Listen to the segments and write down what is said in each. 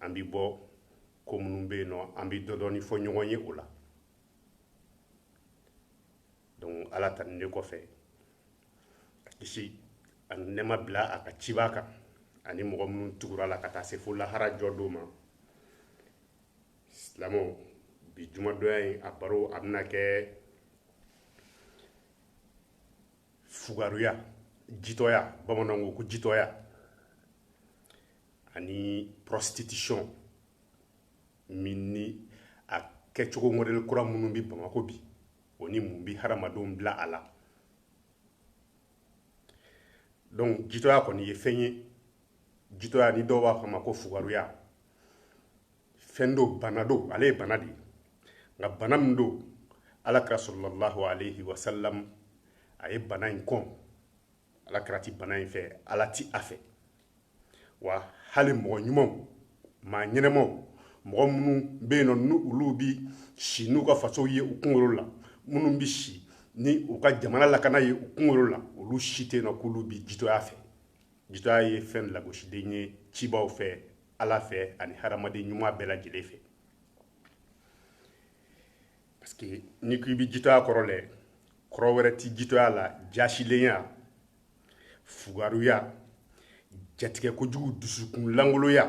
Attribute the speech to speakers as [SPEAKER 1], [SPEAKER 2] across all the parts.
[SPEAKER 1] an bɛ bɔ ko minnu bɛ yen nɔ an bɛ dɔ dɔɔni fɔ ɲɔgɔn ye o la donc ala tanunen kɔfɛ ka kisi ani nɛma bila a ka cibaa kan ani mɔgɔ minnu tugura a la ka taa se fo lahara jɔ don ma silamɛw bi jumadonya in a baro a bɛna kɛ fugaruya jitɔya bamananw ko jitɔya ani prostitution min ni a kɛcogo mɔdɛli kura minnu bɛ bamakɔ bi o ni mun bɛ hadamadenw bila a la donc jitɔya kɔni ye fɛn ye jitɔya ni dɔw b'a fɔ a ma ko fugaruya fɛn do bana do ale ye bana de ye nka bana min do alakira sallallahu alayhi wa sallam a ye bana in kɔn alakira ti bana in fɛ ala ti a fɛ wa hali mɔgɔ ɲumanw maa ɲɛnɛmaw mɔgɔ minnu bɛ yen nɔ ni olu bi si n'u ka fasow ye u kunkolo la minnu bi si ni u ka jamana lakana ye u kunkolo la olu si tɛ yen nɔ k'olu bi jitɔya fɛ jitɔya ye fɛn lagosilen ye cibaaw fɛ ala fɛ ani hadamaden ɲuman bɛɛ lajɛlen fɛ parce que n'i ko i bɛ jitɔya kɔrɔ lɛ kɔrɔ wɛrɛ tɛ jitɔya la jasilenya fugaruya jatigɛ kojugu dusukun langoloya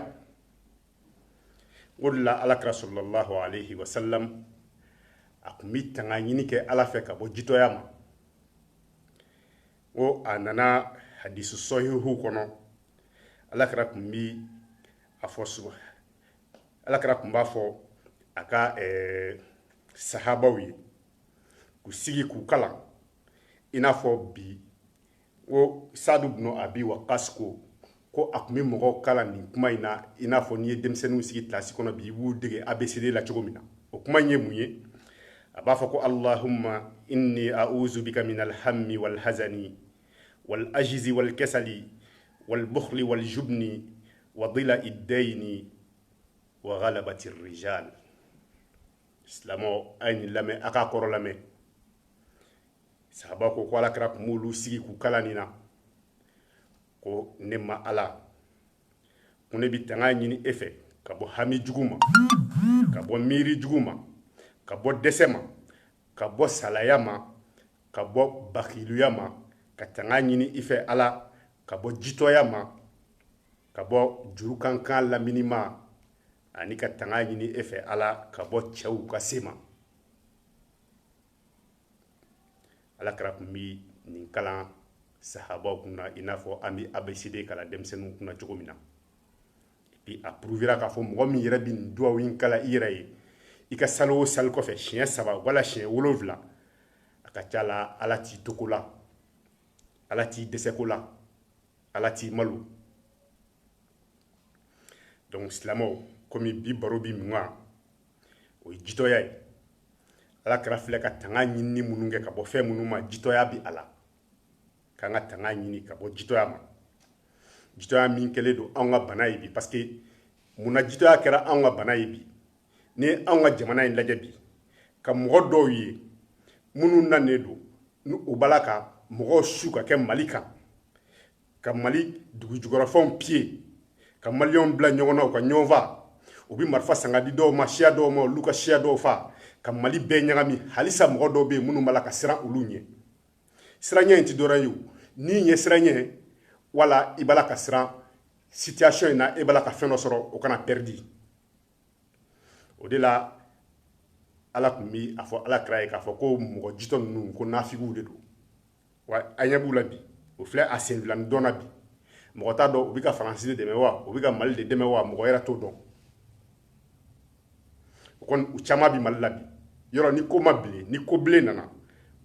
[SPEAKER 1] o de la alakira sallallahu alayhi wa sallam a tun bɛ tanga ɲini kɛ ala fɛ ka bɔ jitɔya ma ko a nana hadisi sahihu kɔnɔ alakira tun bi a fɔ suba alakira tun b'a fɔ a ka eh, sahabaw ye k'u sigi k'u kalan i n'a fɔ bi ko sadu bnu abi wakas ko ko a tun bɛ mɔgɔw kalan nin kuma in na i n'a fɔ n'i ye denmisɛnninw sigi kilasi kɔnɔ bi i b'u dege abcd la cogo min na o kuma in ye mun ye a b'a fɔ ko allahumma inni a'uzu bika min alhammi wal hazani wal ajizi wal kasali wal bukhli wal jubni wa dila'i ddayni wa ghalabati rijal silamɛw a ye nin lamɛn a k'a kɔrɔ lamɛn sahaba ko ko alakira tun b'olu sigi k'u kalan nin na ko ne ma ala ko ne bɛ tanga ɲini e fɛ ka bɔ hami jugu ma ka bɔ miiri jugu ma ka bɔ dɛsɛ ma ka bɔ salaya ma ka bɔ bakiluya ma ka tanga ɲini i fɛ ala ka bɔ jitɔya ma ka bɔ juru ka n kan lamini ma ani ka tanga ɲini e fɛ ala ka bɔ cɛw ka se ma ala kira tun bɛ nin kalan sahabaw kun na i n'a fɔ an bɛ abcd kalan denmisɛnninw kun na cogo min na bi a prouvera k'a fɔ mɔgɔ min yɛrɛ bɛ nin duwawu in kalan i yɛrɛ ye i ka sali o sali kɔfɛ siɲɛ saba wala siɲɛ wolonwula a ka ca la ala t'i toko la ala t'i dɛsɛko la ala t'i malo donc silamɛw komi bi baro bi min kan o ye jitɔya ye ala kira filɛ ka tanga ɲinini minnu kɛ ka bɔ fɛn minnu ma jitɔya bi a la k'an ka tanga ɲini ka bɔ jitɔya ma jitɔya min kɛlen don anw ka bana ye bi parce que mun na jitɔya kɛra anw ka bana ye bi n'i ye anw ka jamana in lajɛ bi ka mɔgɔ dɔw ye minnu nanen don ni u b'a la ka mɔgɔw su ka kɛ mali kan ka mali dugujugɔrɔfɛnw piye ka maliyɛnw bila ɲɔgɔn na u ka ɲɔgɔn fa u bɛ marifa san k'a di dɔw ma siya dɔw ma olu ka siya dɔw fa ka mali bɛɛ ɲagami halisa mɔgɔ dɔw bɛ yen minnu b'a la ka siran olu ɲɛ siranya in ti dɔwɛrɛ ye ni ɲɛsiranya wala i b'a la ka siran situation in na e b'a la ka fɛn dɔ sɔrɔ o kana pɛridi o de la ala tun bi a fɔ ala kira ye k'a fɔ ko mɔgɔ jitɔ ninnu ko nafigiw de don wa an ɲɛ b'u la bi o filɛ a senfilani dɔn na bi mɔgɔ t'a dɔn u bɛ ka faransi de dɛmɛ wa u bɛ ka mali de dɛmɛ wa mɔgɔ yɛrɛ t'o dɔn o kɔni u caman bɛ mali la bi yɔrɔ ni ko ma bilen ni ko bilen nana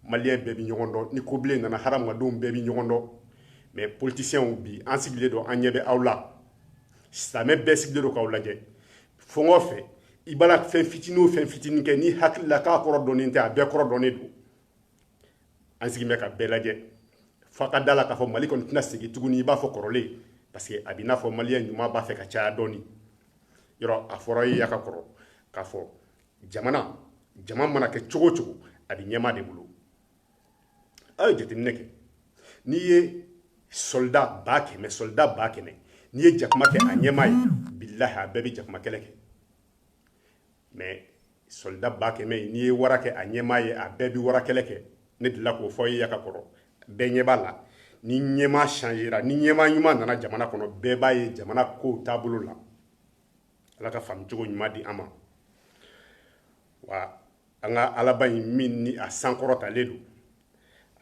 [SPEAKER 1] maliyɛn bɛɛ bɛ ɲɔgɔn dɔn ni ko bilen nana hadamadenw bɛɛ bɛ ɲɔgɔn dɔn mais politisiyɛnw bi an sigilen don an ɲɛ bɛ aw la silamɛ bɛɛ sigilen don k'aw lajɛ fɛn o fɛn i b'a la fɛn fitinin o fɛn fitinin kɛ n'i hakili la k'a kɔrɔ dɔnnen tɛ a bɛɛ kɔrɔ dɔnnen don an sigilen bɛ ka bɛɛ lajɛ fo ka da la k'a fɔ mali kɔni tɛna segin tuguni i b'a fɔ kɔrɔlen parce que a bɛ n'a fɔ maliyɛn ɲuman b'a fɛ ka caya dɔɔni yɔrɔ a fɔra aw ye yan ka kɔrɔ k'a fɔ jamana jama mana kɛ cogo o cogo a bɛ ɲɛmaa de bolo aw ye jateminɛ kɛ n'i ye soldat ba kɛmɛ soldat ba kɛmɛ n'i ye jakuma kɛ a ɲɛmaa ye bilahi a bɛɛ bɛ jakuma kɛlɛ kɛ mais soldat ba kɛmɛ n'i ye wara kɛ a ɲɛmaa ye a bɛɛ bi wara kɛlɛ kɛ ne delila k'o fɔ aw ye yan ka kɔrɔ bɛɛ ɲɛ b'a la ni ɲɛmaa changera ni ɲɛmaa ɲuman nana jamana kɔnɔ bɛɛ b'a ye jamana kow taabolo la ala ka faamucogo ɲuman di an ma wa an ka alaba in min ni a sankɔrɔtalen don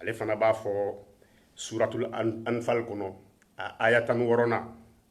[SPEAKER 1] ale fana b'a fɔ suratul anfal kɔnɔ a aya tan wɔɔrɔnan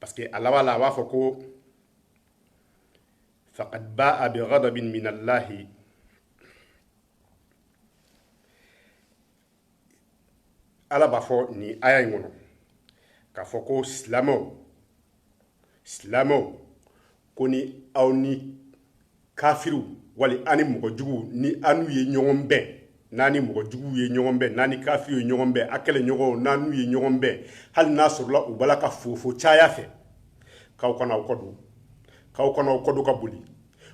[SPEAKER 1] parce que a laban la a b'a fɔ ko faqad ba'a bi ghadabin min allahi ala b'a fɔ nin aya in kɔnɔ k'a fɔ ko silamɛw silamɛw ko ni aw ni kafiriw wali ani mɔgɔ juguw ni a n'u ye ɲɔgɔn bɛn n'a ni mɔgɔ juguw ye ɲɔgɔn bɛn n'a ni kafiriw ye ɲɔgɔn bɛn a kɛlɛɲɔgɔnw n'a n'u ye ɲɔgɔn bɛn hali n'a sɔrɔla u b'a la ka fofo caya fɛ k'aw kana aw kɔdon k'aw kana aw kɔdon ka boli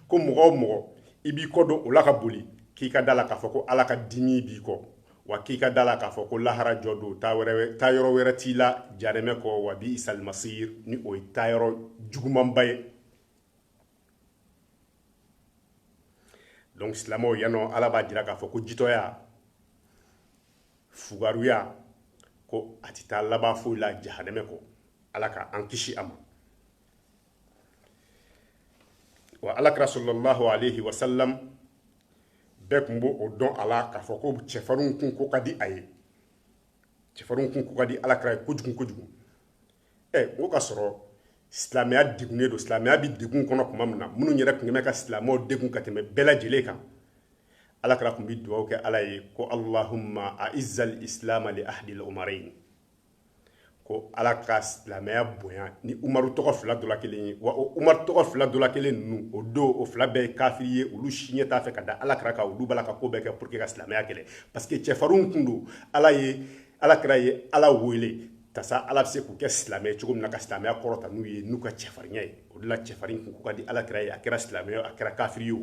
[SPEAKER 1] ko mɔgɔ o mɔgɔ i b'i kɔdon o la ka boli k'i ka da la k'a fɔ ko ala ka dimi b'i kɔ Wa k'i ka da la k'a fɔ ko lahara jɔ don taayɔrɔ wɛrɛ t'i la jahanɛmɛ kɔ wa bi isal masir ni o ye taayɔrɔ jugumanba ye donc silamɛw yanɔ ala b'a jira k'a fɔ ko jitɔya fugaruya ko a tɛ taa laban foyi la jahanɛmɛ kɔ ala ka an kisi a ma wa alakira sallallahu alayhi wa salam bɛɛ tun b'o dɔn a la k'a fɔ ko cɛfarinw kun ko ka di a ye cɛfarinw kun ko ka di alakira ye kojugu kojugu ɛ o ka sɔrɔ silamɛya degunnen don silamɛya bɛ degun kɔnɔ tuma min na minnu yɛrɛ tun bɛ ka silamɛw degun ka tɛmɛ bɛɛ lajɛlen kan alakira tun bɛ dugawu kɛ ala ye ko allahumma aizal islama li ahdil umarain ko ala ka silamɛya bonya ni umaru tɔgɔ fila dɔ la kelen ye wa o umaru tɔgɔ fila dɔ la kelen ninnu o don o fila bɛɛ ye kafiri ye olu si ɲɛ t'a fɛ ka da alakira kan olu b'a la ka ko bɛɛ kɛ pour que ka silamɛya kɛlɛ parce que cɛfarinw kun don alakira ye ala wele tasa ala bɛ se k'u kɛ silamɛ cogo min na ka silamɛya kɔrɔta n'u ye n'u ka cɛfarinya ye o de la cɛfarin kun ka di alakira ye a kɛra silamɛ a kɛra kafiri ye o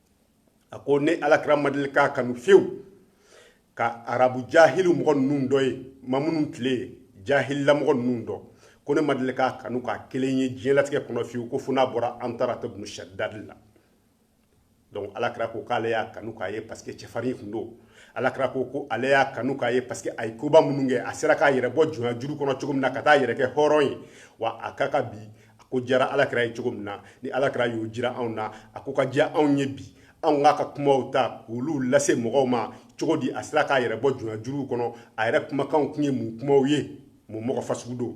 [SPEAKER 1] a ko ne alakira ma deli k'a kanu fiyewu ka arabu jahili mɔgɔ ninnu dɔ ye ma minnu tile ye jahili mɔgɔ ninnu dɔ ko ne ma deli k'a kanu ka kelen ye diɲɛlatigɛ kɔnɔ fiyewu ko fo n'a bɔra antarata bunu shaddad la donc alakira ko k'ale y'a kanu k'a ye parce que cɛfarin tun don alakira ko ko ale y'a kanu k'a ye parce que a ye koba minnu kɛ a sera k'a yɛrɛ bɔ jɔnya juru kɔnɔ cogo min na ka taa yɛrɛ kɛ hɔrɔn ye wa a ka ka bi A ko jara alakira ye cogo min na ni alakira y'o jira anw na a ko ka diya anw ye bi anw k'a ka kuma ta olu lase mɔgɔw ma cogo di a sera k'a yɛrɛ bɔ jɔnya juru kɔnɔ a yɛrɛ kumakanw tun ye mun kumaw ye mun mɔgɔ fasugu don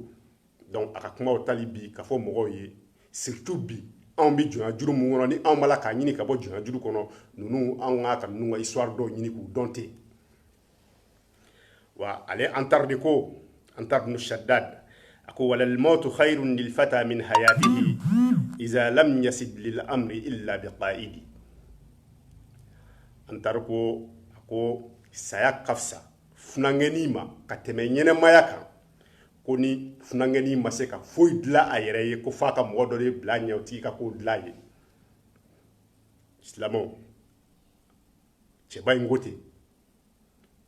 [SPEAKER 1] donc a ka kuma tali bi ka fɔ mɔgɔw ye surtout bi anw bɛ jɔnya juru min kɔnɔ ni anw b'a la k'a ɲini ka bɔ jɔnya juru kɔnɔ ninnu anw k'a ka ninnu ka histoire dɔw ɲini k'u dɔn ten wa ale antara de ko antara ibn shaddad a ko walal mautu khayrun lil fata min hayatihi iza lam yasib lil amri illa bi qa'idi antara ko a ko saya ka fisa funankɛnin ma ka tɛmɛ ɲɛnɛmaya kan ko ni funankɛnin ma se ka foyi dilan a yɛrɛ ye ko fo a ka mɔgɔ dɔ de bila ɲɛ o tigi ka ko dilan ye silamɛ cɛba in ko ten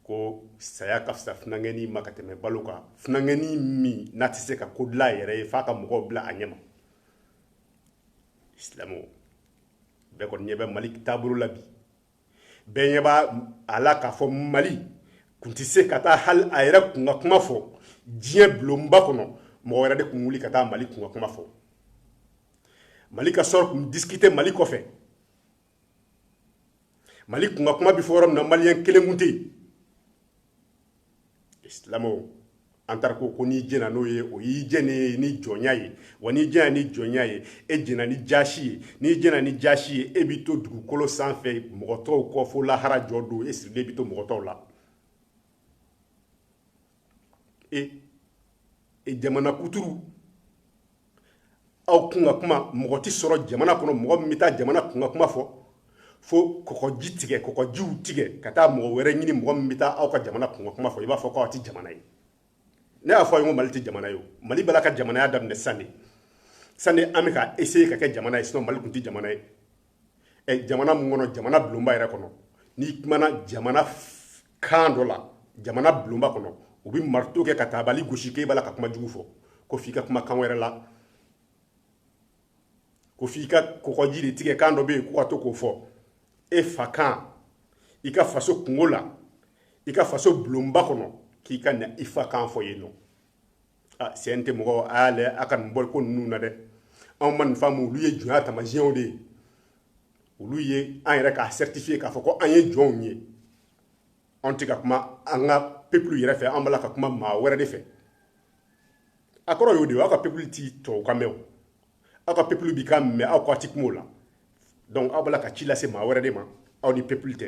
[SPEAKER 1] ko saya ka fisa funankɛnin ma ka tɛmɛ balo kan funankɛnin min n'a tɛ se ka ko dilan a yɛrɛ ye f'a ka mɔgɔw bila a ɲɛma silamɛw bɛɛ kɔni ɲɛ bɛ mali taabolo la bi bɛɛ ɲɛ b'a la k'a fɔ mali kun tɛ se ka taa hali a yɛrɛ kunkan kuma fɔ diɲɛ bulonba kɔnɔ mɔgɔ wɛrɛ de kun wuli ka taa mali kunkan kuma fɔ mali ka sɔrɔ kun disikite mali kɔfɛ mali kunkan kuma bɛ fɔ yɔrɔ min na maliyɛn kelen kun tɛ yen isilamaw an taara ko ko n'i jɛna n'o ye o y'i jɛnnen ni jɔnya ye wa n'i jɛna ni jɔnya ye e jɛna ni jaasi ye n'i jɛna ni jaasi ye e bi to dugukolo sanfɛ mɔgɔ tɔw kɔ fo lahara jɔ don e sirilen bi to mɔgɔ tɔw la e e jamana kuturu aw kunkan kuma mɔgɔ tɛ sɔrɔ jamana kɔnɔ mɔgɔ min bɛ taa jamana kunkan kuma fɔ fo kɔkɔji tigɛ kɔkɔjiw tigɛ ka taa mɔgɔ wɛrɛ ɲini mɔgɔ min bɛ taa aw ka jamana kunkan kuma fɔ i b'a fɔ k'aw tɛ jamana ye ne y'a fɔ a ye ko mali tɛ jamana ye o mali b'a la ka jamanaya daminɛ san de san de an bɛ ka essayer ka kɛ jamana ye sinon mali tun tɛ jamana ye jamana min kɔnɔ jamana bulonba yɛrɛ kɔnɔ n'i kumana jamana kan dɔ la jamana bulonba kɔnɔ u bɛ marito kɛ ka taabali gosi k'e b'a la ka kuma jugu fɔ ko f'i ka kuma kan wɛrɛ la ko f'i ka kɔkɔji de tigɛ kan dɔ bɛ yen ko ka to k'o fɔ e fa kan i ka faso kunko la i ka faso bulonba kɔnɔ k'i kana i fa kan fɔ yen nɔ CNT mɔgɔ a y'a lajɛ a ka nin bɔliko ninnu na dɛ anw ma nin faamu olu ye jɔnya taamasiyɛnw de ye olu ye an yɛrɛ k'a certifier k'a fɔ ko an ye jɔnw ye anw tɛ ka kuma an ka peuple yɛrɛ fɛ an b'a la ka kuma maa wɛrɛ de fɛ a kɔrɔ y'o de ye aw ka peuple ti tubabukan mɛn o aw ka peuple bi kan mɛn aw k'a ti kuma o la donc aw b'a la ka ci lase maa wɛrɛ de ma aw ni peuple tɛ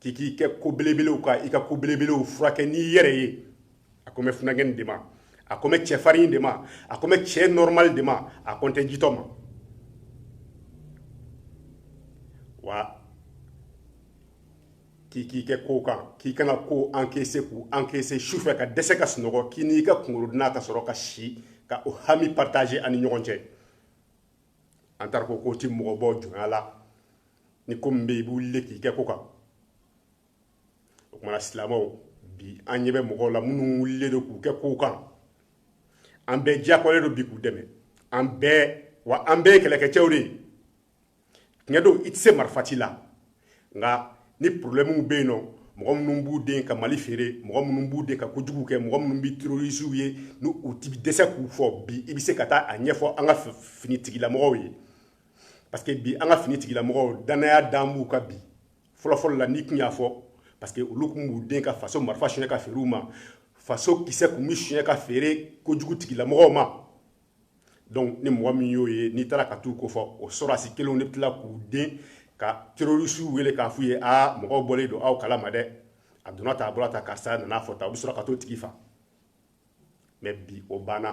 [SPEAKER 1] k'i k'i kɛ ko belebelew kan i ka ko belebelew furakɛ n'i yɛrɛ ye a ko n bɛ funankɛnin de ma a ko n bɛ cɛfarin de ma a ko n bɛ cɛ normal de ma a ko n tɛ jitɔ ma wa k'i k'i kɛ ko kan k'i kana ko encaisser k'u encaisser su fɛ ka dɛsɛ ka sunɔgɔ k'i n'i ka kunkɔrɔdonan ka sɔrɔ ka si ka o hami partager a ni ɲɔgɔn cɛ an taara ko ko ti mɔgɔ bɔ jɔnya la ni ko min bɛ i bɛ wuli k'i kɛ ko kan o tuma na silamɛw bi an ɲɛ bɛ mɔgɔw la minnu wulilen don k'u kɛ kow kan an bɛɛ diyagoyalen don bi k'u dɛmɛ an bɛɛ wa an bɛɛ ye kɛlɛkɛcɛw de ye tiɲɛ don i tɛ se marifa ci la nka ni porobilɛmuw bɛ yen nɔ mɔgɔ minnu b'u den ka mali feere mɔgɔ minnu b'u den ka kojugu kɛ mɔgɔ minnu bɛ terorisiw ye ni u ti dɛsɛ k'u fɔ bi i bɛ se ka taa a ɲɛfɔ an ka finitigilamɔgɔw ye parce que bi an ka finitigilamɔgɔw danaya dan b'u kan bi fɔlɔfɔlɔ la n'i tun y'a fɔ parce que olu tun b'u den ka faso marifa suɲɛ ka feere u ma faso kisɛ tun bɛ suɲɛ ka feere kojugu tigilamɔgɔw ma donc ni mɔgɔ min y'o ye n'i taara ka t'u kofɔ o sɔrɔdasi kelenw de bɛ tila k'u den ka terorisiw wele k'a f'u ye aa mɔgɔw bɔlen don aw kala ma dɛ a donna tan a bɔra tan karisa nan'a fɔ tan u bɛ sɔrɔ ka t'o tigi fa mais bi o banna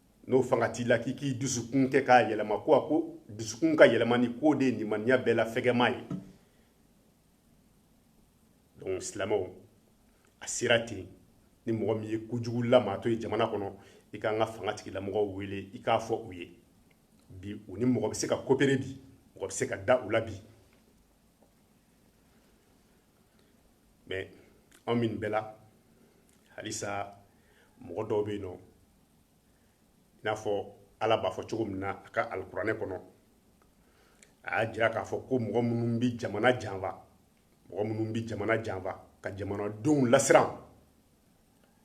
[SPEAKER 1] n'o fanga t'i la k'i k'i dusukun kɛ k'a yɛlɛma ko a ko dusukun ka yɛlɛmani k'o de ye nimaniya bɛɛ la fɛgɛma ye donc silamɛw a sera ten ni mɔgɔ min ye kojugu lamaatɔ ye jamana kɔnɔ i k'an ka fanga tigilamɔgɔw wele i k'a fɔ u ye bi u ni mɔgɔ bɛ se ka coopérer bi mɔgɔ bɛ se ka da u la bi mais anw min bɛɛ la halisa mɔgɔ dɔw bɛ yen nɔ n'a fɔ ala b'a fɔ cogo min na a ka alikuranɛ kɔnɔ a y'a jira k'a fɔ ko mɔgɔ minnu bɛ jamana janfa mɔgɔ minnu bɛ jamana janfa ka jamanadenw lasiran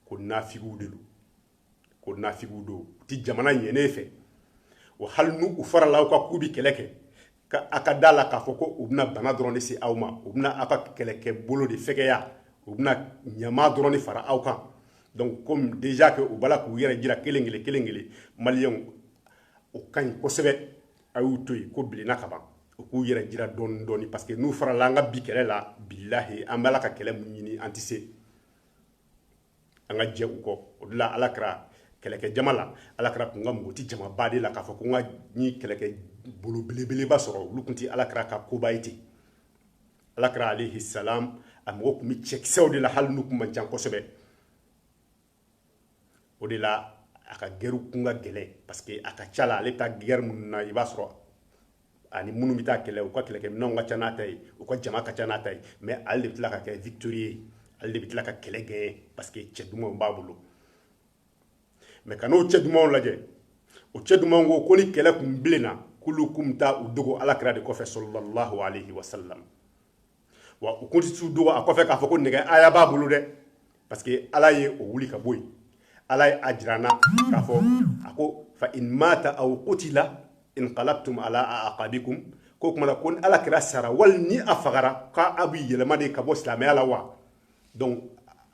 [SPEAKER 1] ko nafigiw de don ko nafigiw don u tɛ jamana ɲɛnen fɛ wa hali n'u farala aw kan k'u bɛ kɛlɛ kɛ ka a ka da la k'a fɔ ko u bɛna bana dɔrɔn de se aw ma u bɛna aw ka kɛlɛkɛ bolo de fɛgɛya u bɛna ɲama dɔrɔn de fara aw kan donc comme déjà que u b'a la k'u yɛrɛ jira kelen kelen kelen kelen maliyɛnw o ka ɲi kosɛbɛ a y'u to yen ko bilenna ka ban u k'u yɛrɛ jira dɔɔni dɔɔni parce que n'u farala an ka bi kɛlɛ la bilahi an b'a la ka kɛlɛ mun ɲini an tɛ se an ka jɛ u kɔ o de la alakira kɛlɛkɛ jama la alakira tun mago tɛ jamaba de la k'a fɔ ko n ka ni kɛlɛkɛ bolo belebeleba sɔrɔ olu tun tɛ alakira ka koba ye ten alakira alayhi salam a mago tun bɛ cɛkisɛw de la hali n'u tun man ca kosɛbɛ o de la a ka gɛrɛw kun ka gɛlɛn parce que a ka ca la ale ta gɛrɛ minnu na i b'a sɔrɔ ani minnu bɛ taa kɛlɛ u ka kɛlɛkɛminɛnw ka ca n'a ta ye u ka jama ka ca n'a ta ye mais ale de bɛ tila ka kɛ victorieux ye ale de bɛ tila ka kɛlɛ gagner parce que cɛ dumanw b'a bolo mais ka n'o cɛ dumanw lajɛ o cɛ dumanw ko ko ni kɛlɛ tun bilenna k'olu kun bɛ taa u dogo alakira de kɔfɛ sallallahu alayhi wasallam wa u kun tɛ t'u dogo a kɔfɛ k'a fɔ ko nɛgɛhaya b'a bolo dɛ parce que ala ye o wuli ka bɔ yen ala ye a jira an na k'a fɔ a ko fa in mata aw qutila inqalabtum ala aqabikum ko o tuma na ko ni alakira sara wali ni a fagara k'aw bɛ yɛlɛma de ka bɔ silamɛya la wa donc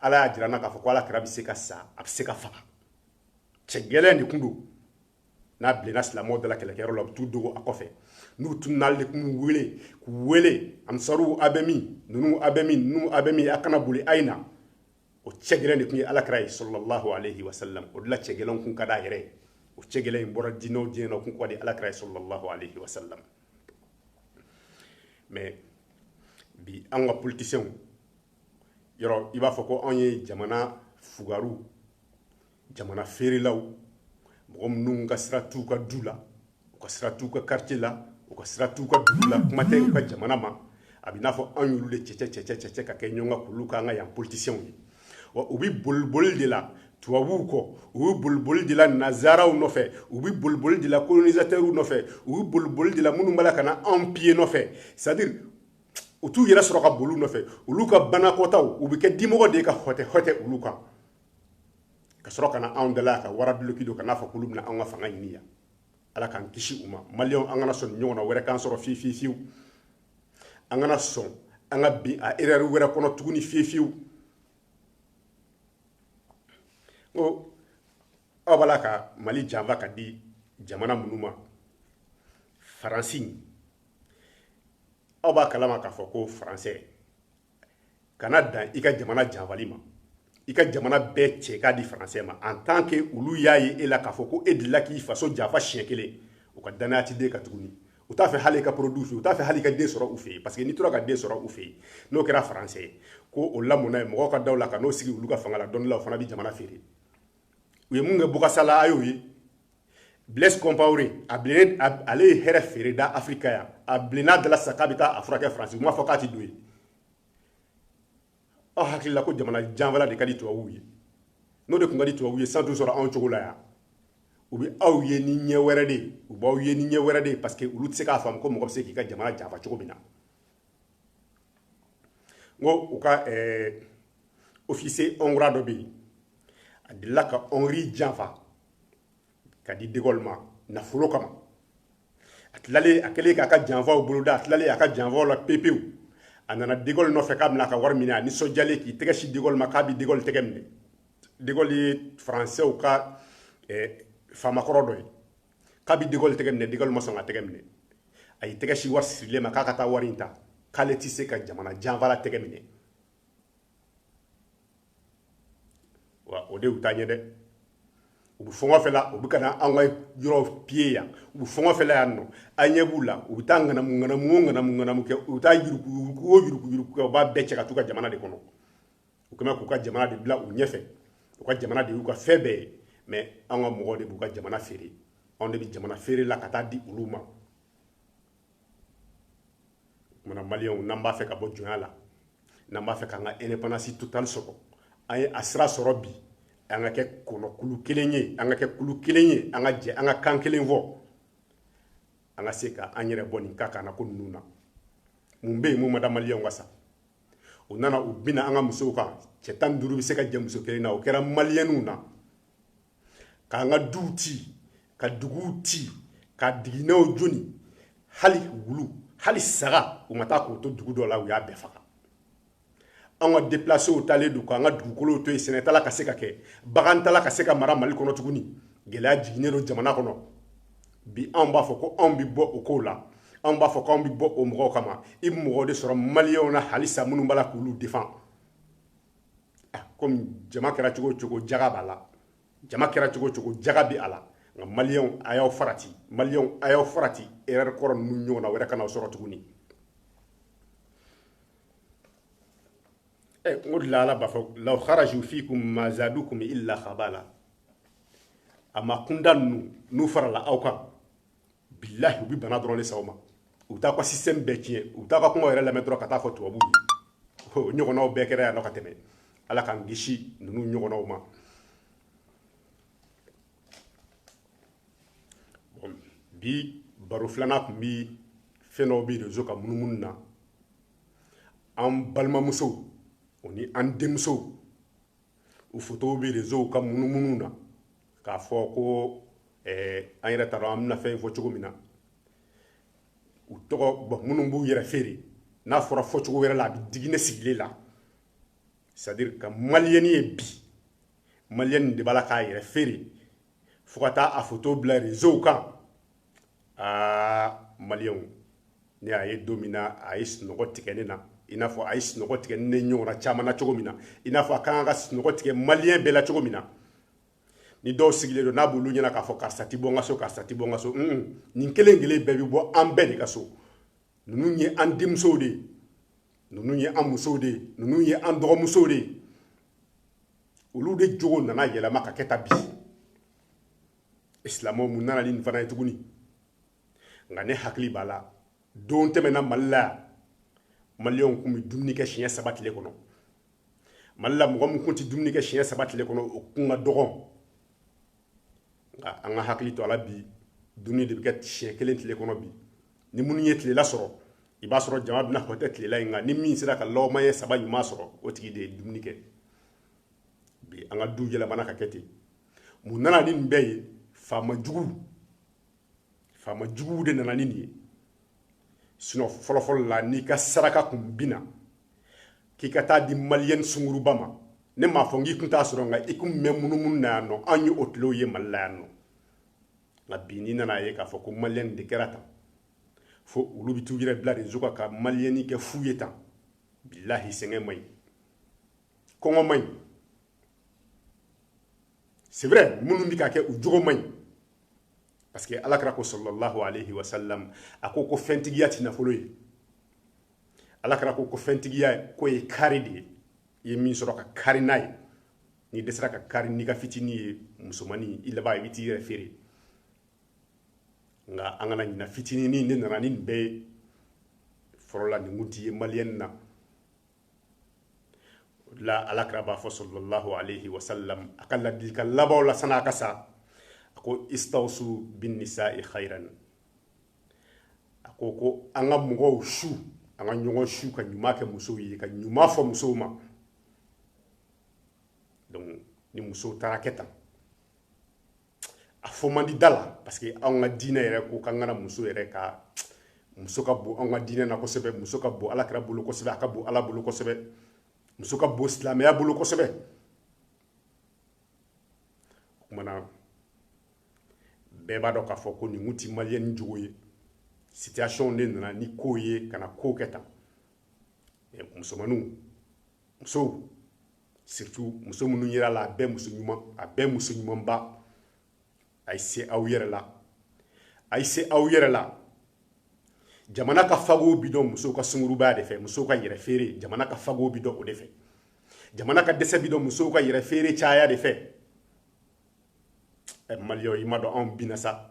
[SPEAKER 1] ala y'a jira an na k'a fɔ ko alakira bɛ se ka sa a bɛ se ka faga cɛ gɛlɛn de tun don n'a bilenna silamɛw dala kɛlɛkɛyɔrɔ la u bɛ t'u dogo a kɔfɛ n'u tunun'ale de tun wele k'u wele ansaruw a bɛ min ninnu a bɛ min ninnu a bɛ min a kana boli a ye na o cɛ gɛlɛn de tun ye alakira ye sallallahu alayhi wa sallam o de la cɛ gɛlɛn kun ka d'a yɛrɛ ye o cɛ gɛlɛn in bɔra diinɛ o diinɛ na o kun ka di alakira ye sallallahu alayhi wa sallam mais bi an ka politiciens yɔrɔ i b'a fɔ ko anw ye jamana fugaru jamana feerelaw mɔgɔ minnu ka sira t'u ka du la u ka sira t'u ka quartier la u ka sira t'u ka dugu la kuma tɛ u ka jamana ma a bɛ n'a fɔ anw y'olu de cɛcɛ ka kɛ ɲɔgɔn kan k'olu k'an ka yan politiciens ye wa u bɛ boliboli de la tubabuw kɔ u bɛ boliboli de la nansaraw nɔfɛ u bɛ boliboli de la colonisateurs nɔfɛ u bɛ boliboli de la minnu b'a la ka na anw piller nɔfɛ c'est à dire u t'u yɛrɛ sɔrɔ ka boli nɔfɛ olu ka banakɔta u bɛ kɛ dimɔgɔ de ka hɔtɛ hɔtɛ olu kan ka sɔrɔ ka na anw dala ka wara duloki don ka n'a fɔ k'olu bɛna anw ka fanga ɲini yan ala k'an kisi u ma maliyɛnw an kana sɔn nin ɲɔgɔnna wɛrɛ k'an sɔrɔ fiyewu fiyewu an kana sɔn an ka bin a erreur wɛrɛ kɔnɔ tuguni fiyewu fiyewu n ko aw b'a la ka mali janfa ka di jamana minnu ma faransi aw b'a kalama k'a fɔ ko faransɛ kana dan i ka jamana janfali ma i ka jamana bɛɛ cɛ k'a di faransɛ ma en tant que olu y'a ye e la k'a fɔ ko e delila k'i faso janfa siɲɛ kelen u ka dannaya t'i den kan tuguni u t'a fɛ hali i ka produit fɛ u t'a fɛ hali i ka den sɔrɔ u fɛ yen parce que n'i tora ka den sɔrɔ u fɛ yen n'o kɛra faransɛ ye ko o lamɔna yen mɔgɔw ka daw la ka n'o sigi olu ka fanga la dɔɔni la o fana bɛ jamana feere u ye mun kɛ bokassa la a y'o ye blaise compaore ale ye hɛrɛ feere da afirika yan a bilenna dala sisan k'a bɛ taa a furakɛ faransi u m'a fɔ k'a tɛ don yen aw hakili la ko jamana janfala de ka di tubabuw ye n'o de tun ka di tubabuw ye san t'u sɔrɔ anw cogo la yan u bɛ aw ye ni ɲɛ wɛrɛ de ye u b'aw ye ni ɲɛ wɛrɛ de ye parce que olu tɛ se k'a faamu ko mɔgɔ bɛ se k'i ka jamana janfa cogo min na n ko u ka ɛɛ officier hongrois dɔ bɛ yen a delila ka hongrie janfa ka di de gaulle ma nafolo kama a tilalen a kɛlen k'a ka janfaw boloda a tilalen a ka janfaw la pepewu a nana de gaulle nɔfɛ k'a bɛna a ka wari minɛ a nisɔndiyalen k'i tɛgɛ si de gaulle ma k'a bɛ de gaulle tɛgɛ minɛ de gaulle ye faransɛw ka ɛɛ faamakɔrɔ dɔ ye k'a bɛ de gaulle tɛgɛ minɛ de gaulle ma sɔn k'a tɛgɛ minɛ a y'i tɛgɛ si wari sirilen ma k'a ka taa wari in ta k'ale tɛ se ka jamana janfala tɛgɛ minɛ wa o de y'u taa ɲɛ dɛ u bɛ fɔngɔ fɛ la u bɛ ka na an ka yɔrɔ piller yan u bɛ fɔngɔ fɛ la yan nɔ an ɲɛ b'u la u bɛ taa ŋanamu ŋanamu o ŋanamu ŋanamu kɛ u bɛ taa yuruku yuruku o yuruku yuruku kɛ u b'a bɛɛ cɛ ka t'u ka jamana de kɔnɔ u kɛlen k'u ka jamana de bila u ɲɛfɛ u ka jamana de y'u ka fɛn bɛɛ ye mais an ka mɔgɔw de b'u ka jamana feere anw de bɛ jamana feere la ka taa di olu ma kumana maliyɛnw n'an b'a fɛ ka bɔ jɔnya la n'an b'a fɛ k'an ka indépendance totale sɔrɔ an ye a sira sɔrɔ bi an ka kɛ kɔnɔkulu kelen ye an ka kɛ kulu kelen ye an ka jɛ an ka kan kelen fɔ an ka se ka an yɛrɛ bɔ nin ka kan na ko ninnu na mun bɛ yen mun ma da maliyɛnw ka sa u nana u binna an ka musow kan cɛ tan duuru bɛ se ka jɛ muso kelen na o kɛra maliyɛnw na k'an ka duw ci ka duguw ci ka diginɛw joni hali wulu hali saga u ma taa k'o to dugu dɔ la u y'a bɛɛ faga an ka depilasew taalen don k'an ka dugukolow to yen sɛnɛ t'a la ka se ka kɛ bagan t'a la ka se ka mara mali kɔnɔ tuguni gɛlɛya jiginnen don jamana kɔnɔ bi anw b'a fɔ ko anw bɛ bɔ o kow la anw b'a fɔ ko anw bɛ bɔ o mɔgɔw kama i bɛ mɔgɔw de sɔrɔ maliyɛnw na halisa minnu b'a la k'olu defan ah, komi jama kɛra cogo o cogo jaga b'a la jama kɛra cogo o cogo jaga bɛ a la nka maliyɛnw a y'aw farati maliyɛnw a y'aw farati erɛri kɔrɔ ninnu ɲɔgɔnna wɛrɛ kana aw sɔrɔ tuguni Eh, n ko la ala b'a fɔ law kharaju fikum ma zadukum illa khabala a ma kunda ninnu n'u farala aw kan bilahi u bi bana dɔrɔn de s'aw ma u bɛ taa ka système bɛɛ tiɲɛ u bɛ taa ka kuma yɛrɛ lamɛn dɔrɔn ka taa fɔ tubabuw ye o ɲɔgɔnnaw bɛɛ kɛra yan nɔ ka tɛmɛ ala k'an kisi ninnu ɲɔgɔnnaw ma bi baro filanan tun bi fɛn dɔw bɛ rezo kan munumunu na an balimamusow o ni an denmusow u fotow bɛ réseau kan munumunu na k'a fɔ ko eh, an yɛrɛ t'a dɔn an bɛna fɛn in fɔ cogo min na u tɔgɔ bon minnu b'u yɛrɛ feere n'a fɔra fɔcogo wɛrɛ la a bɛ digi ne sigilen la c'est à dire ka maliyɛni ye bi maliyɛni de b'a la k'a yɛrɛ feere fo ka taa a foto bila réseau kan aa maliyɛnw ne y'a ye don min na a ye sunɔgɔ tigɛ ne na i n'a fɔ a ye sunɔgɔ tigɛ ne ɲɔgɔnna caman na cogo min na i n'a fɔ a kan ka sunɔgɔ tigɛ maliyɛn bɛɛ la cogo min na ni dɔw sigilen don n'a b'olu ɲɛna k'a fɔ karisa ti bɔ n ka so karisa ti bɔ n ka so nin kelen kelen bɛɛ bɛ bɔ an bɛɛ de ka so ninnu ye an denmusow de ye ninnu ye an musow de ye ninnu ye an dɔgɔmusow de ye olu de jogo nana yɛlɛma ka kɛ tan bi silamɛw mun nana ni nin fana ye tuguni nka ne hakili b'a la don tɛmɛna mali la yan maliyɛnw tun bɛ dumuni kɛ siɲɛ saba tile kɔnɔ mali la mɔgɔ min tun tɛ dumuni kɛ siɲɛ saba tile kɔnɔ o kun ka dɔgɔn nka an ka hakili to a la bi dumuni de bɛ kɛ siɲɛ kelen tile kɔnɔ bi ni minnu ye tilela sɔrɔ i b'a sɔrɔ jama bɛna hɔtɛ tilela in nka ni min sera ka lɔgɔmaɲɛ saba ɲuman sɔrɔ o tigi de ye dumuni kɛ bi an ka du yɛlɛmana ka kɛ ten mun nana ni nin bɛɛ ye faama juguw faama juguw de nana ni nin ye sinon fɔlɔfɔlɔ la n'i ka saraka kun binna k'i ka t'a di maliyɛni sunguruba ma ne m'a fɔ n k'i kun t'a sɔrɔ nka i kun bɛ munumunu na yan nɔ an ye o tilew ye mali la yan nɔ nka bi n'i nana ye k'a fɔ ko maliyɛni de kɛra tan fo olu bɛ t'u yɛrɛ bila réseau kan ka maliyɛni kɛ fu ye tan bilahi sɛgɛn man ɲi kɔngɔ man ɲi c'est vrai minnu bɛ ka kɛ u jogo man ɲi parce que ala kira ko sallallahu alayhi wa sallam a ko ko fɛntigiya ti nafolo ye ala kira ko ko fɛntigiya k'o ye kari de ye i ye min sɔrɔ ka kari n'a ye n'i dɛsɛra ka kari n'i ka fitinin ye musomanin i laban i bɛ t'i yɛrɛ feere nka an kana ɲina fitininin ne nana ni nin bɛɛ ye fɔlɔ la nin kun ti ye maliyɛni na la alakira b'a fɔ sallallahu alaihi wasallam a ka ladilikan labanw la san'a ka sa a ko istawsu bin nisa'i khairan a ko ko an ka mɔgɔw su an ka ɲɔgɔn su ka ɲuman kɛ musow ye ka ɲuman fɔ musow ma donc ni musow taara kɛ tan a fɔ man di da la parce que anw ka diinɛ yɛrɛ ko k'an kana muso yɛrɛkɛ muso ka bon anw ka diinɛ na kosɛbɛ muso ka bon alakira bolo kosɛbɛ a ka bon ala bolo kosɛbɛ muso ka bon silamɛya bolo kosɛbɛ o kumana bɛɛ b'a dɔn k'a fɔ ko nin kun ti maliyɛni jogo ye situation de nana ni kow ye ka na kow kɛ tan musomaninw musow surtout muso minnu yer'a la a bɛɛ muso ɲuman a bɛɛ muso ɲumanba a ye se aw yɛrɛ la a ye se aw yɛrɛ la jamana ka fagow bi dɔn musow ka sungurubaya de fɛ musow ka yɛrɛ feere jamana ka fagow bi dɔn o de fɛ jamana ka dɛsɛ bi dɔn musow ka yɛrɛ feere caya de fɛ ɛ mali yo i m'a dɔn anw binna sa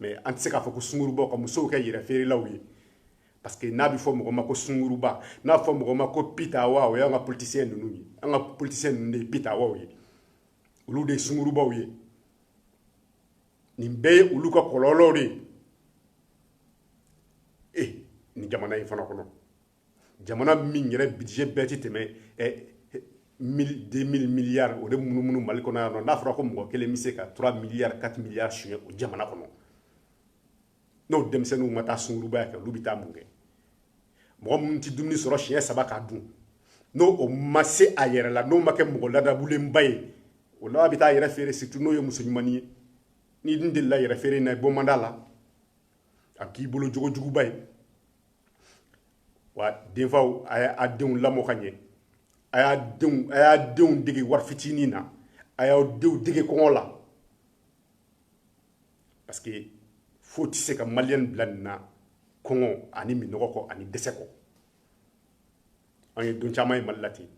[SPEAKER 1] mais an tɛ se k'a fɔ ko sungurubaw ka musow kɛ yɛrɛ feerelaw ye parce que n'a bɛ fɔ mɔgɔ ma ko sunguruba n'a fɔ mɔgɔ ma ko pitawa o y'an ka politisiyɛn ninnu ye an ka politisiyɛn ninnu de ye pitawaw ye olu de ye sungurubaw ye nin bɛɛ ye olu ka kɔlɔlɔw de ye e nin jamana in fana kɔnɔ jamana min yɛrɛ budget bɛɛ tɛ tɛmɛ deux mille milliards o de munumunu mali kɔnɔ yan n'a fɔra ko mɔgɔ kelen bɛ se ka trois milliards quatre milliards suɲɛ o jamana kɔnɔ n'o denmisɛnninw ma taa sungurunba kɛ olu bɛ taa mun kɛ mɔgɔ minnu tɛ dumuni sɔrɔ siɲɛ saba k'a dun n'o o ma se a yɛrɛ la n'o ma kɛ mɔgɔ ladabulenba ye o la bɛ taa yɛrɛ feere surtout n'o ye muso ɲumannin ye n'i dun delila yɛrɛ feere in na i bɔ man d'a la a k'i bolo jogojuguba ye wa denfaw a y'a denw lamɔ ka ɲɛ a y'a denw a y'a denw dege wari fitinin na a y'aw denw dege kɔngɔ la parce que foyi tɛ se ka maliyɛn bila nin na kɔngɔ ani minnɔgɔ kɔ ani dɛsɛ kɔ an ye don caman ye mali la ten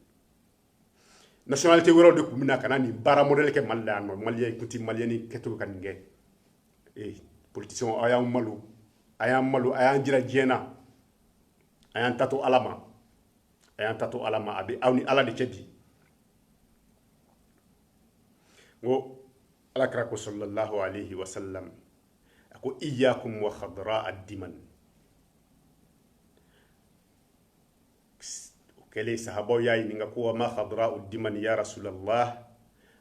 [SPEAKER 1] nationalité wɛrɛw de tun bɛ na ka na nin baara modèle kɛ Mali la yan nɔ maliyɛn tun tɛ maliyɛn kɛcogo ka nin kɛ ee politiciens aw y'an malo a y'an malo a y'an jira diɲɛ na a y'an ta to ala ma a y'an ta to ala ma a bɛ aw ni ala de cɛ bi n ko alakira ko sallallahu alaihi wa sallam a ko iyyakum wa khadra ad-diman o kɛlen sahabaw y'a ɲininka ko ma khadra'u dimani ya rasulallah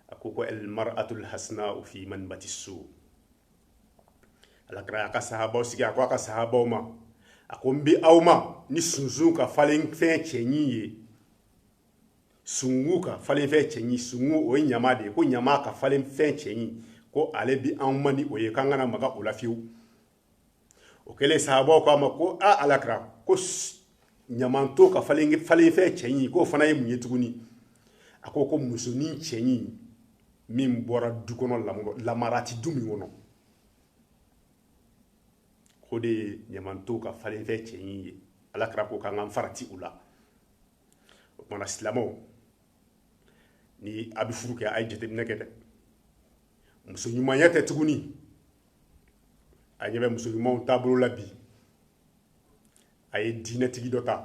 [SPEAKER 1] a ko ko al mar'atul hasna'u fi manbati su alakira y'a ka sahabaw sigi a ko a ka sahabaw ma a ko n bɛ aw ma ni sunsun kan falenfɛn cɛɲi ye sungu kan falenfɛn cɛɲi sungu o ye ɲaman de ye ko ɲaman kan falenfɛn cɛɲi ko ale bi an ma ni o ye k'an kana maga o la fiyewu o kɛlen sahabaw k'a ma ko aa alakira ko ɲamanton kan falen falenfɛn cɛɲi k'o fana ye mun ye tuguni a ko ko musonin cɛɲi min bɔra du kɔnɔ lamara ti du min kɔnɔ o de ye ɲamanton kan falenfɛn cɛɲi ye alakira ko k'an ka farati u la o tuma na silamɛw ni a bɛ furu kɛ a ye jateminɛ kɛ dɛ muso ɲumanya tɛ tuguni a ɲɛ bɛ muso ɲumanw taabolo la bi a ye diinɛtigi dɔ ta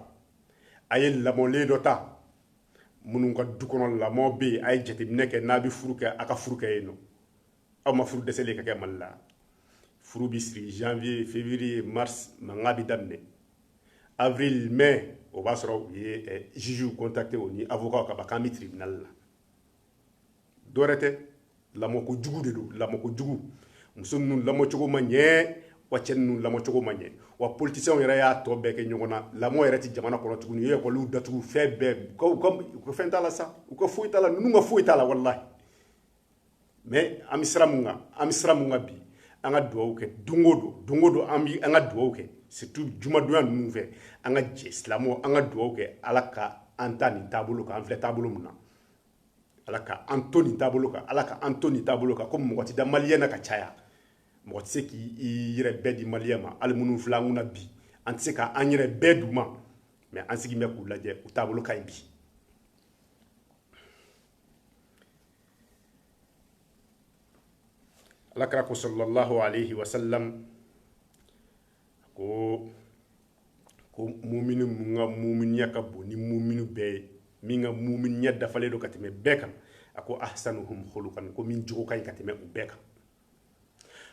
[SPEAKER 1] a ye lamɔlen dɔ ta minnu ka du kɔnɔ lamɔ bɛ yen a ye jateminɛ kɛ n'a bɛ furu kɛ a ka furu kɛ yen nɔ aw ma furu dɛsɛlen ka kɛ mali la furu bɛ siri janvier février mars mankan bɛ daminɛ avril mai o b'a sɔrɔ u ye eh, juge contacté o ni avocat kaban k'an bɛ tribunal la dɔwɛrɛ tɛ lamɔko jugu de don lamɔko jugu muso ninnu lamɔcogo ma ɲɛ wa cɛ ninnu lamɔcogo ma ɲɛ wa politiciens yɛrɛ y'a tɔ bɛɛ kɛ ɲɔgɔn na lamɔ yɛrɛ tɛ jamana kɔnɔ tuguni u ye ekɔliw datugu fɛn bɛɛ u ka u ka u ka fɛn t'a la sa u ka foyi t'a la ninnu ka foyi t'a la walahi mais an bɛ sira mun kan an bɛ sira mun kan bi an ka dugawu kɛ don o don don o don an bɛ an ka dugawu kɛ surtout jumadonya ninnu fɛ an ka jɛ silamɛw an ka dugawu kɛ ala ka an to nin taabolo kan an filɛ taabolo min na ala ka an to nin taabolo kan ala ka an to nin taabolo kan ko mɔgɔ tɛ da maliyɛn na ka caya mɔgɔ tɛ se k'i yɛrɛ bɛɛ di maliyɛn ma hali minnu filɛ an kunna bi an tɛ se ka an yɛrɛ bɛɛ d'u ma mais an sigilen bɛ k'u lajɛ u taabolo ka ɲi bi alakira ko sallallahu alaihi wasallam ko ko mumini mun ka muminiya ka bon ni mumini bɛɛ ye min ka muminiya dafalen don ka tɛmɛ bɛɛ kan a ko ahsanuhum khuluqan ko min jogo ka ɲi ka tɛmɛ u bɛɛ kan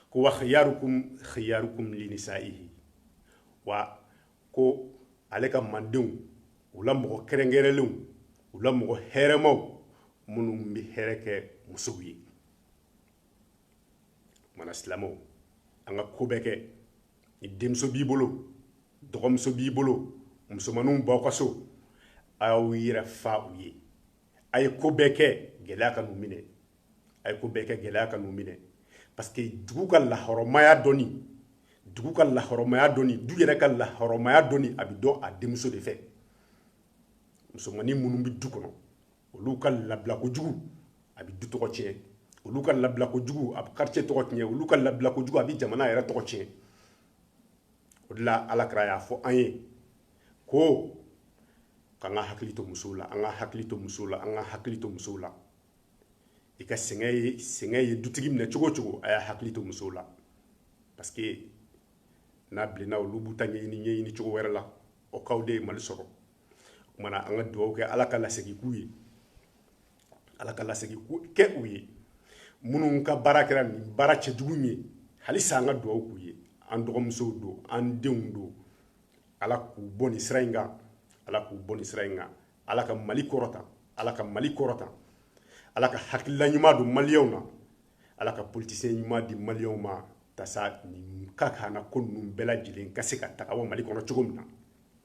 [SPEAKER 1] ko wa khiyarukum khiyarukum linisaihi wa ko ale ka mandenw u la mɔgɔ kɛrɛnkɛrɛnlenw u la mɔgɔ hɛrɛmaw minnu bɛ hɛrɛ kɛ musow ye o kama na silamɛw an ka ko bɛɛ kɛ ni denmuso b'i bolo dɔgɔmuso b'i bolo musomanninw b'aw ka so a y'aw yɛrɛ fa u ye a ye ko bɛɛ kɛ gɛlɛya kan'u minɛ a ye ko bɛɛ kɛ gɛlɛya kan'u minɛ parce que dugu ka lahɔrɔmaya dɔnni dugu ka lahɔrɔmaya dɔnni du yɛrɛ ka lahɔrɔmaya dɔnni a bɛ dɔn a denmuso de fɛ musomannin minnu bɛ du kɔnɔ olu ka labila kojugu a bɛ du tɔgɔ tiɲɛ olu ka labila kojugu a bɛ quartier tɔgɔ tiɲɛ olu ka labila kojugu a bɛ jamana yɛrɛ tɔgɔ tiɲɛ o de la alakira y'a fɔ an ye ko k'an ka hakili to musow la an ka hakili to musow la an ka hakili to musow la i ka sɛgɛn ye sɛgɛn ye dutigi minɛ cogo o cogo a y'a hakili to musow la parce que n'a bilenna olu b'u ta ɲɛɲini ɲɛɲini cogo wɛrɛ la o kow de ye mali sɔrɔ o kama na an ka dugawu kɛ ala ka lasegin k'u ye ala ka lasegin kɛ u ye minnu ka baara kɛra nin baara cɛjugu ye halisa an ka dugawu k'u ye an dɔgɔmusow don an denw don ala k'u bɔ nin sira in kan ala k'u bɔ nin sira in kan ala ka mali kɔrɔta ala ka mali kɔrɔta ala ka hakilila ɲuman don maliyɛnw na ala ka politisiyɛn ɲuman di maliyɛnw ma yaasa nin kakala ko ninnu bɛɛ lajɛlen ka se ka taga mali kɔnɔ cogo min na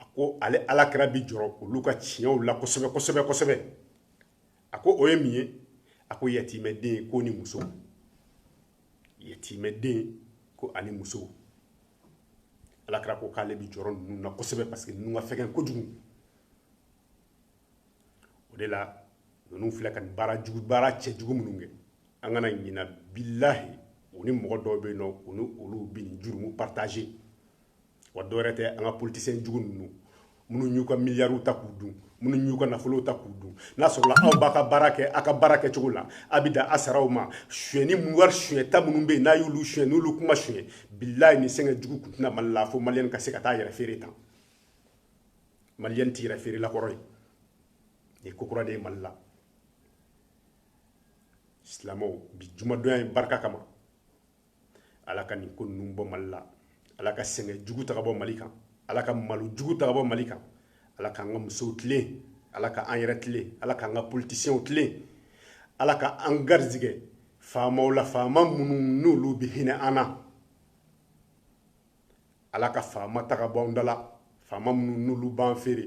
[SPEAKER 1] a ko ale ala kira bi jɔrɔ olu ka tiɲɛw la kosɛbɛ kosɛbɛ kosɛbɛ a ko o ye min ye a ko yatimɛden ko ni muso yatimɛden ko ani muso ala kira ko k'ale bi jɔrɔ ninnu na kosɛbɛ parce que ninnu ka fɛgɛn kojugu o de la ninnu filɛ ka nin baara jugu baara cɛjugu minnu kɛ an kana ɲina bilahi u ni mɔgɔ dɔw bɛ yen n'u ni olu bɛ nin jurumu partage wa dɔwɛrɛ tɛ an ka politisiyɛn jugu ninnu minnu y'u ka miliyariw ta k'u dun minnu y'u ka nafolow ta k'u dun n'a sɔrɔla aw b'a ka baara kɛ aw ka baara kɛcogo la a bɛ dan a saraw ma suyɛnni mun wari suyɛnta minnu bɛ yen n'a y'olu suyɛn n'olu kun ma suyɛn bilahi nin sɛgɛn jugu kun tɛ na mali la fo maliyɛn ka se ka taa yɛrɛ feere tan maliyɛn tɛ yɛrɛ feerela kɔrɔ ye nin ko kura de ye mali la silamɛw bi jumadonya in barika kama ala ka nin ko ninnu bɔ mali la ala ka sɛgɛn jugu ta ka bɔ mali kan ala ka malo jugu ta ka bɔ mali kan ala k'an ka musow tilen ala ka an yɛrɛ tilen ala k'an ka politisiyɛnw tilen ala ka an garizigɛ faamaw la faama minnu n'olu bɛ hinɛ an na ala ka faama ta ka bɔ an da la faama minnu n'olu b'an feere